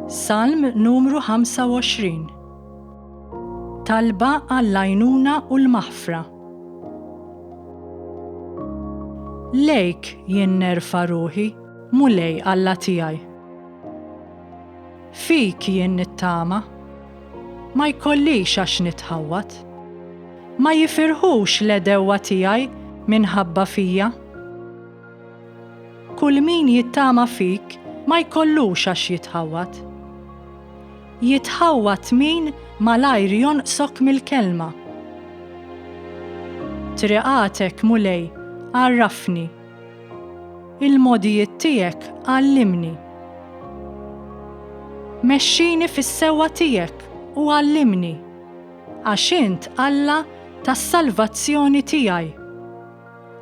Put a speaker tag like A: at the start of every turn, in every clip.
A: Salm numru 25 Talba għall-għajnuna u l-maħfra Lejk jien nerfa ruħi, mulej Alla tiegħi. Fik jien nittama, ma jkollix għax nitħawwat. Ma jifirħux l-edewwa tiegħi minħabba fija. Kull min jittama fik ma jkollux għax jitħawwad. Jitħawwad min malajr jonqsok mill-kelma. Triqatek, Mulej, għarrafni. Il-mogħdijiet tiegħek għallimni. Mexxini fis-sewwa tiegħek u għallimni, għax int Alla tas-salvazzjoni tiegħi.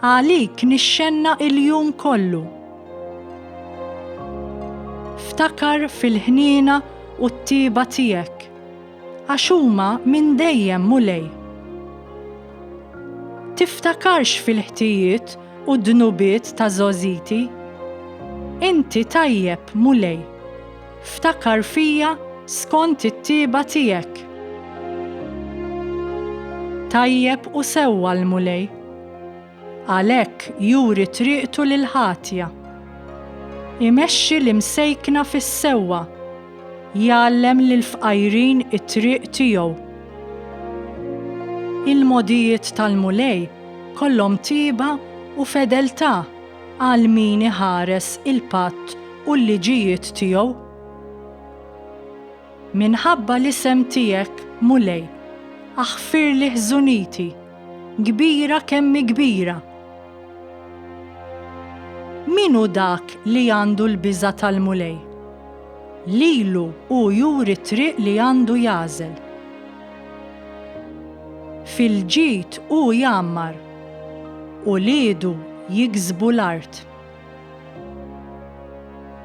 A: Għalik nixxenna il-jum kollu. Ftakar fil-ħniena u t-tieba tiegħek, għax huma minn dejjem, Mulej. Tiftakarx fil-ħtijiet u d-dnubiet ta' żgħożiti. Inti tajjeb, Mulej. Ftakar fija skont it-tieba tiegħek. Tajjeb u sewwa l-Mulej. Għalhekk juri triqtu lill-ħatja. Imexxi l-imsejkna fis-sewwa, jgħallem lill-fqajrin it-triq tiegħu. Il-mogħdijiet tal-Mulej kollhom tieba u fedeltà. Għal min iħares il-patt u l-liġijiet tiegħu. Minħabba l-isem tiegħek, Mulej, aħfirli ħżuniti, kbira kemm hi kbira. Min hu dak li għandu l-biża' tal-Mulej? Lilu hu juri t-triq li għandu jagħżel. Fil-ġid hu jgħammar. Uliedu jiksbu l-art.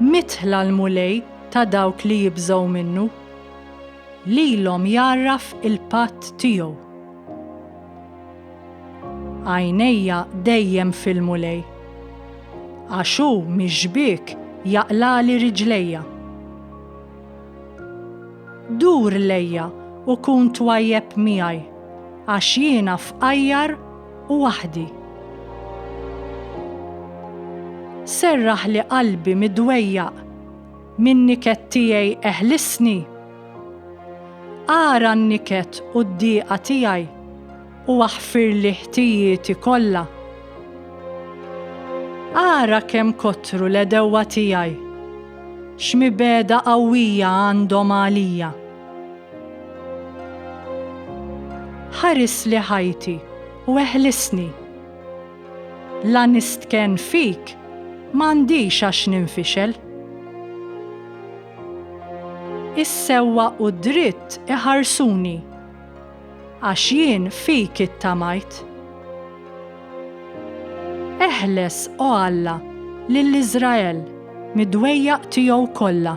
A: Midħla l-Mulej ta' dawk li jibżgħu minnu. Lilhom jgħarraf il-patt tiegħu. Għajnejja dejjem fil-Mulej. Għax hu mix-xbiek jaqlagħli riġlejja. Dur lejja u kun twajjeb miegħi, għax jiena fqajjar u waħdi. Serraħli qalbi midwejjaq, min-niket tiegħi eħlisni. Ara n-niket u d-dieqa tiegħi. u aħfirli ħtijieti kollha. Ara kemm kotru l-għedewwa tiegħi, x'mibegħda qawwija għandhom għalija. Ħarisli ħajti u eħlisni. La nistkenn fik m'għandix għax ninfixel. Is-sewwa u d-dritt iħarsuni. Għax jien fik ittamajt. Eħles, O Alla, lil Iżrael mid-dwejjaq tiegħu kollha.